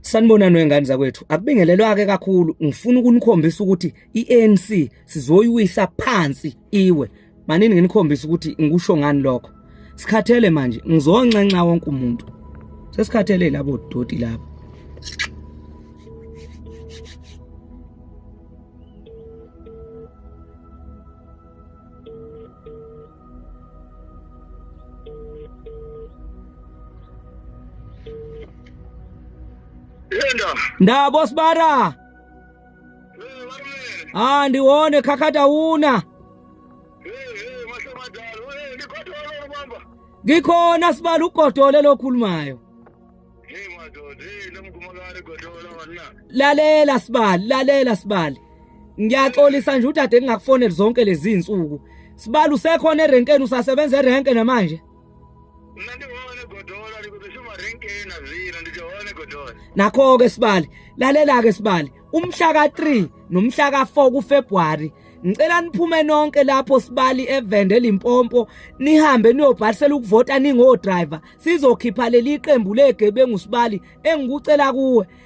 Sanibonani wengane zakwethu akubingelelwake kakhulu ngifuna ukunikhombisa ukuthi iANC sizoyiwisa phansi iwe Manini nginikhombisa ukuthi ngikusho ngani lokho. Sikhathele manje, ngizonxenxa wonke umuntu. Sesikhathele labo doti labo. Linda. Ndabo sibara. Ah, ndiwone khakhata una. Ngikhona sibala ugodole lokhulumayo. Lalela sibali, lalela sibali. Ngiyaxolisa nje udade ngingakufoneli zonke lezi zinsuku. Sibali usekhona erenkeni usasebenza erenke namanje. nakho-ke sibali lalela-ke sibali umhla ka-3 nomhla ka-4 kufebruwari ngicela niphume nonke lapho sibali evende limpompo nihambe niyobhalisela ukuvota ningodrayiva sizokhipha leli qembu legebengu sibali engikucela kuwe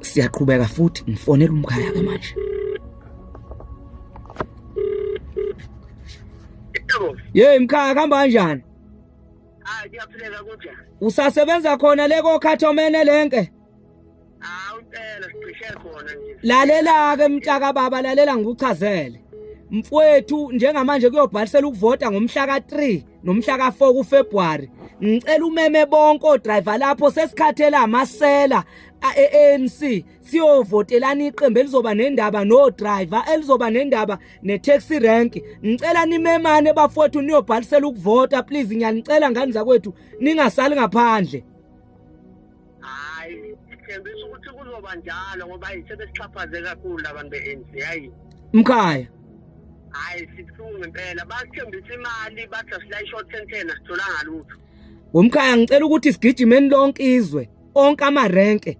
siyaqhubeka futhi ngifonela umkhaya ke manje Yey mkhaya kuhamba kanjani Ah ngiyaphileka kunjani Usasebenza khona le kokhathomene lenke Ah umpela sicishe khona nje Lalela ke mtaka baba lalela ngikuchazele mfwethu njengamanje kuyobhalisela ukuvota ngomhla ka 3 nomhla ka-4 kuFebruary ngicela umeme bonke odriver lapho sesikhathela amasela ANC siyovotelana iqembu elizoba nendaba no driver elizoba nendaba ne taxi rank ngicela nimemane bafowethu niyobhalisela ukuvota please ngiyanicela ngani zakwethu ningasali ngaphandle hayi sithembisa ukuthi kuzoba njalo ngoba sebesixhaphaze kakhulu abantu be-anc hayi mkhaya hayi sibuhlungu impela basithembisa imali bathi asila i-short sentena sitholanga lutho womkhaya ngicela ukuthi sigijimeni lonke izwe onke amarenke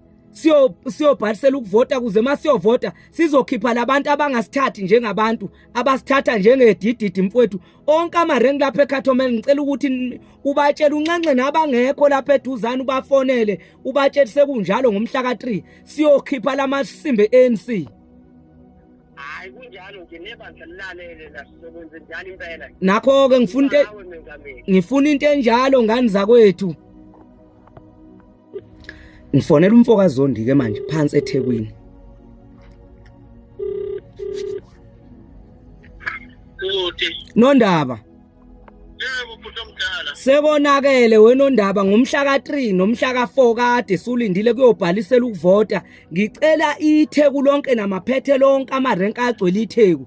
siyobhalisela ukuvota kuze uma siyovota sizokhipha labantu abangasithathi njengabantu abasithatha njengedididi mfowethu onke amarenki lapha eCatomel ngicela ukuthi ubatshele unxenxe nabangekho lapha eduzane ubafonele ubatshele sekunjalo ngomhla ka3 siyokhipha lamasimbe ANC hayi kunjalo nje nebandla lilalele lasebenze njalo impela nakho ke ngifuna ngifuna into enjalo ngani zakwethu ngifonela umfo kazondi ke manje phansi ethekwini nondaba sekonakele wenondaba ngomhla ka-3 nomhla ka-4 kade sulindile kuyobhalisela ukuvota ngicela itheku lonke namaphethelo onke amarenke agcwele itheku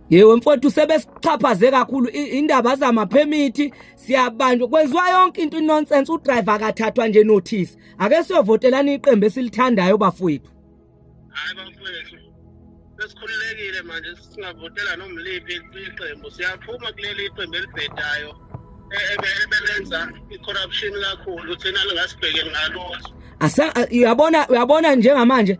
Yewe mfowethu sebesixhaphaze kakhulu indaba zama permit siyabanjwa kwenziwa yonke into inonsense udriver akathathwa nje notice ake siyovotelana iqembu esilithandayo bafowethu Hayi bafowethu sesikhululekile manje singavotela nomliphi iqembu siyaphuma kuleli iqembu elibhedayo e-, ebelenza i-corruption kakhulu thina lingasibhekeli ngalutho uyabona uyabona njengamanje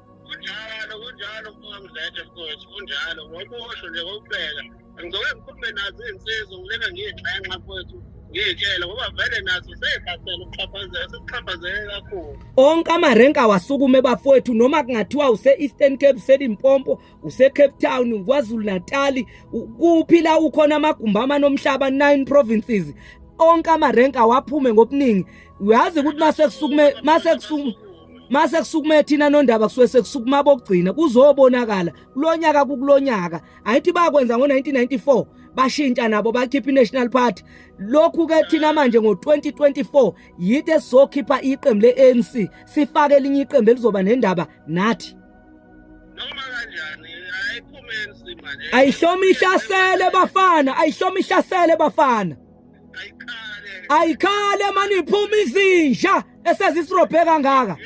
kunjalo kunjalo kungamzethe futhi kunjalo ngoba usho nje kokubheka ngicela ngikhulume nazo izinsizwa ngilena ngiyigxenxa futhi ngiyitshele ngoba vele nazo seyibhasela ukuxhaphazela sekuxhaphazele kakhulu onke amarenki awasukume bafowethu noma kungathiwa use-eastern cape uselimpompo use-cape town kwazulu natali kuphi la ukhona amagumbi amanomhlaba nine provinces onke amarenki awaphume ngobuningi uyazi ukuthi masekusukume masekusukume mase kusukume thina nondaba kusuke sekusukuma abokugcina kuzobonakala kulonyaka kukulonyaka ayithi bakwenza ngo1994 bashintsha nabo bakhipha iNational Party lokhu ke thina manje ngo2024 yithi esizokhipha iqembu leANC sifake elinye iqembu elizoba nendaba nathi noma kanjani ayiphumeni simanje ayihloma ihlasele bafana ayihloma ihlasele bafana ayikhale mani iphuma izinja esezisirobhe kangaka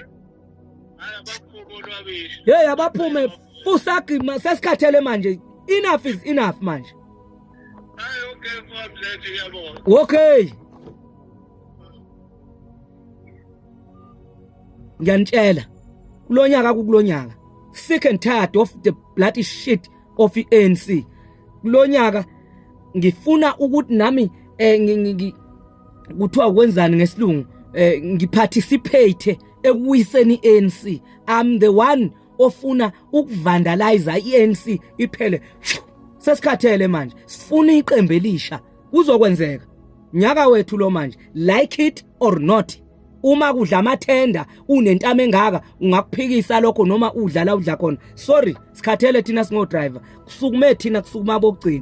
hey abaphume fusagima sesikhathele manje enough is enough manje okay ngiyanitshela kulonyaka kukulonyaka sick and tired of the bloody shit of ANC kulonyaka ngifuna ukuthi nami eh kuthiwa kwenzani ngesilungu eh ngiparticipate ekuyiseni ANC i'm the one ofuna ukuvandalize iANC iphele sesikhathele manje sifuna iqembu elisha kuzokwenzeka nyaka wethu lo manje like it or not uma kudla amathenda unentama engaka ungakuphikisa lokho noma udlala udla khona sorry sikhathele thina singo driver kusukume thina kusukuma bokugcina